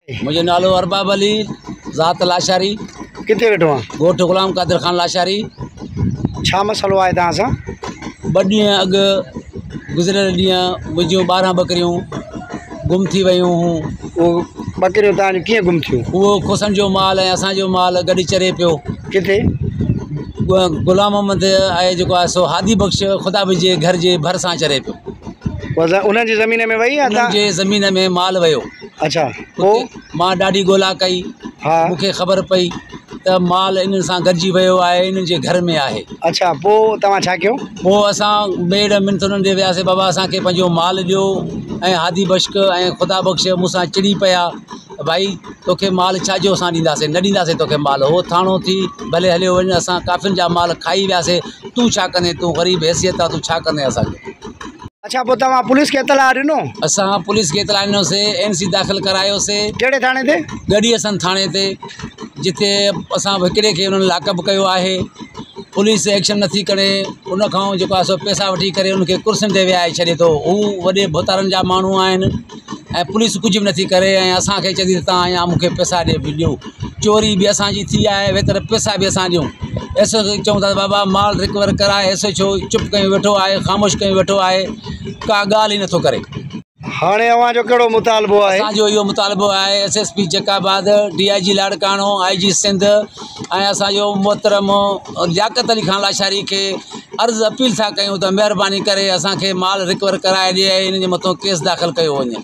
منهنجو نالو ارباب علي ذات لاشاري ڪٿي ويٺو آهان ڳوٺ غلام قادر خان لاشاري ڇا مسئلو آهي توهان سان ٻه ڏينهن اڳ گذريل ڏينهن منهنجون ٻارهن ٻڪريون گم ٿي ويون هون اهو ٻڪريون توهان جون ڪيئن گم ٿيون اهو کوسن جو مال ۽ اسان جو مال گڏ چري پيو ڪٿي غلام محمد آهي جيڪو آهي سو هادي بخش خدا به جي گهر جي ڀرسان چري پيو انهن جي زمين ۾ وئي انهن جي زمين ۾ مال ويو اڇا پوء؟ مان ڏاڍي ڳولا ڪئي. مون کي خبر پئي ته مال انهن سان گڏجي ويو آهي ۽ انهن جي گهر ۾ آهي. اڇا پوء توهان ڇا ڪيو؟ پوء اسان ميڙ منٿ انهن ڏي وياسين، بابا اسان کي پنهنجو مال ڏيو ۽ هادي بشڪ ۽ خدا بخش مون سان چڙي پيا ته ڀائي توکي مال ڇا جو اسان ڏينداسين، نه ڏينداسين توکي مال، هو ٿانو ٿي ڀلي هليو وڃ اسان ڪافرن جا مال کائي وياسين، تون ڇا ڪندين، تون غريب حيثيت آهي تون ڇا ڪندين اسان جو. اڇا پوء توهان پوليس کي اطلاع ڏنو؟ اسان پوليس کي اطلاع ڏنوسي اين سي داخل ڪرايوسي. ڪهڙي ٿاڻي تي؟ ڳڙهي حسن ٿاڻي تي جتي اسان هڪڙي کي انهن لاڪ اپ ڪيو آهي پوليس ايڪشن نه ٿي کڻي ان کان جيڪو آهي سو پيسا وٺي ڪري ان کي ڪرسين تي ويهاري ڇڏي ٿو هو وڏي ڀوتارن جا ماڻهو آهن ۽ پوليس ڪجهه به نٿي ڪري ۽ اسان کي چئي ٿي تان اڃا مون کي پئسا ڏي بھ ڏيو چوري به اسانجي ٿي آهي ۽ ويتر پئسا به اسان ڏيون ايس او کي چئون ٿا بابا مال رڪور ڪراء ايس ايڇ او چپ ڪري ويٺو آهي خاموش ڪري ويٺو آهي ڪا ڳالهه ئي نٿو ڪري هاڻي اوهان جو ڪهڙو مطالبو آهي اسان جو اهو مطالبو آهي S S P Jacobabad D I G Larkana I G Sindh ۽ اسان جو محترم لياقت علي خان لاشاري کي عرض اپيل ٿا ڪيون ته مهرباني ڪري اسان کي مال رڪور ڪرائي ڏي ۽ ان جي مٿو ڪيس داخل ڪيو وڃي